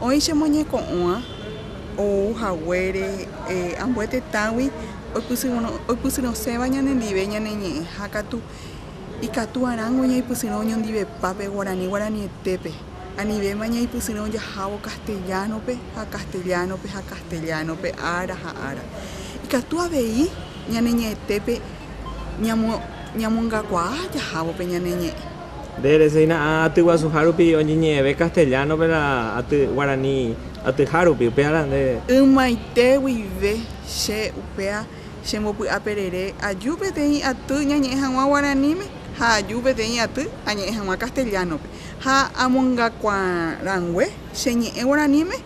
Oĩ che moñeko'õva ou haguére ambue tetãgui oipysyrõséva ñanendive ñaneñe'ẽha katu, ikatu'arãngo ñaipysyrõ oñondivepa pe guarani guaranietépe, anivéma ñaipysyrõ jahávo castellano-pe ha castellano-pe ha castellano-pe ára ha ára. Ikatu avei ñaneñe'ẽtépe ñamongakuaa jahávo pe ñaneñe'ẽ. Nde reseína aty guasuha rupi oñeñe'ẽve castellano-pe la aty guarani atyha rupi, upévara nde. Ymaite guive che upéva chembopy'aperere aju peteĩ aty ñañe'ẽ hag̃ua guaraníme ha aju peteĩ aty añe'ẽ hag̃ua castellano-pe. Ha amongakuarangue che ñe'ẽ guaraníme.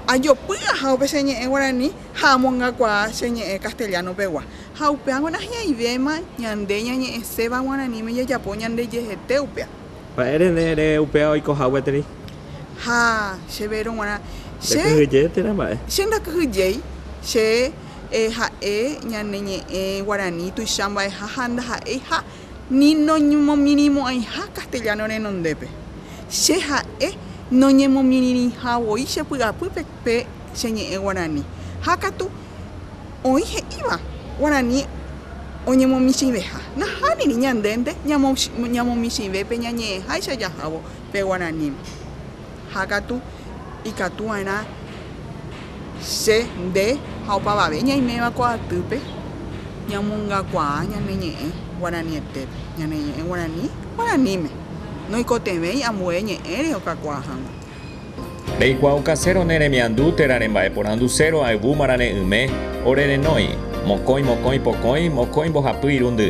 ajopy aja upe che ñe'ẽ guarani ha amongakuaa che ñe'ẽ castellano pegua. Ha upéva g̃uarã hi'aivéma ñande ñañe'ẽséva guaraníme jajapo ñandejehete upéva. Mba'e rene ere upéva oikoha gueteri? Ha che véro g̃uarã, che. Ndakyhyje térã mba'e. Che ndakyhyjéi, che ha'e ñane ñe'ẽ guarani tuicha mba'eha ha ndaha'éiha. ni noñemomirĩmo'ãiha castellano renondépe. Che ha'e noñemomirĩrĩha voi che py'apýpe pe che ñe'ẽ guarani. Ha katu oĩ he'íva guarani oñemomichĩveha. Nahániri ñandénte ñamomichĩve pe ñañe'ẽháicha jahávo pe guaraníme. ha katu ikatu va'erã che, nde ha opavave ñaiméva ko atýpe ñamongakuaa ñane ñe'ẽ guaranietépe, ñane ñe'ẽ guarani guaraníme, noikotevẽi ambue ñe'ẽre okakuaa hag̃ua. Reikuaaukaséro ne remiandu térã rembaeporanduséro ayvúmara re'ỹme, ore renói, mokõi mokõi pokõi, mokõi mbohapy irundy.